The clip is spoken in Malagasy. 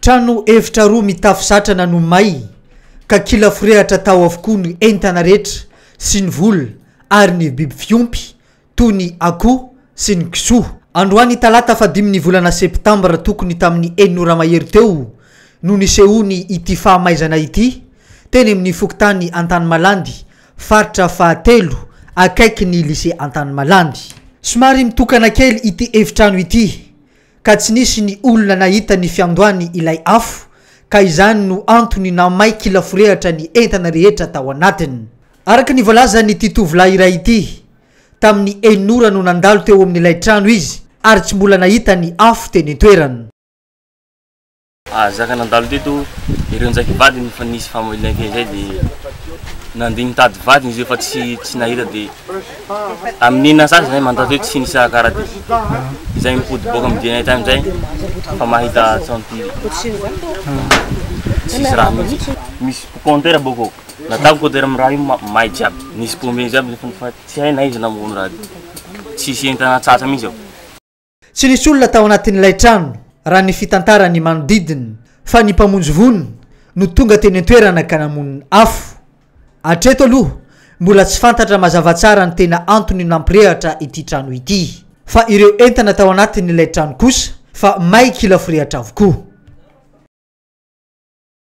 Trano efitra roa mitafo satrana no may ka kila forehatra tao avokoa ny entana rehetra sy ny vola ary ny biby fiompy toy ny akoho sy ny kisoa. Androany talata fahadimy ny volana septambra tokony tamin'ny enina ora mahery teo no nisehoany ity fahamaizana ity teny amin'ny fokontany Antanimalandy faritra fahatelo akaiky ny lycée Antanimalandy. Somary mitokana kely ity efitrano ity ka tsy nisy ny olona nahita ny fiandohany ilay afo ka izany no antony nahamay kilaforehatra ny entana rehetra tao anatiny. Araka ny voalazan'ity tovolahy iray ity, tamin'ny enina ora no nandalo teo amin'ilay trano izy ary tsy mbola nahita ny afo teny an-toerana. Ah, zaka nandalo teto ireo njaky vadiny fa nisy fahamaliana kely zay de nandeha nitady vadiny izy fa tsy tsy nahita de amin'ny enina sasy zay mandato hoe tsy nisy akara de izay mipody boka amin'ny DNA tany zay fa mahita tsanty tsisy raha mihitsy misy compteur boko natako compteur amin'ny raha io may jiaby nisy pombe jiaby nefa tsy hay na izy namono raha tsisy entana tsatsa mihitsy ao Tsy nisy olona tao anatin'ilay trano, raha ny fitantaran'ny manodidina, fa ny mpamonjy voina no tonga teny an-toerana ka namono afo. Hatreto aloha, mbola tsy fantatra mazava tsara ny tena antony nampirehatra ity trano ity, fa ireo entana tao anatin'ilay trano kosa fa may kila forehitra avokoa.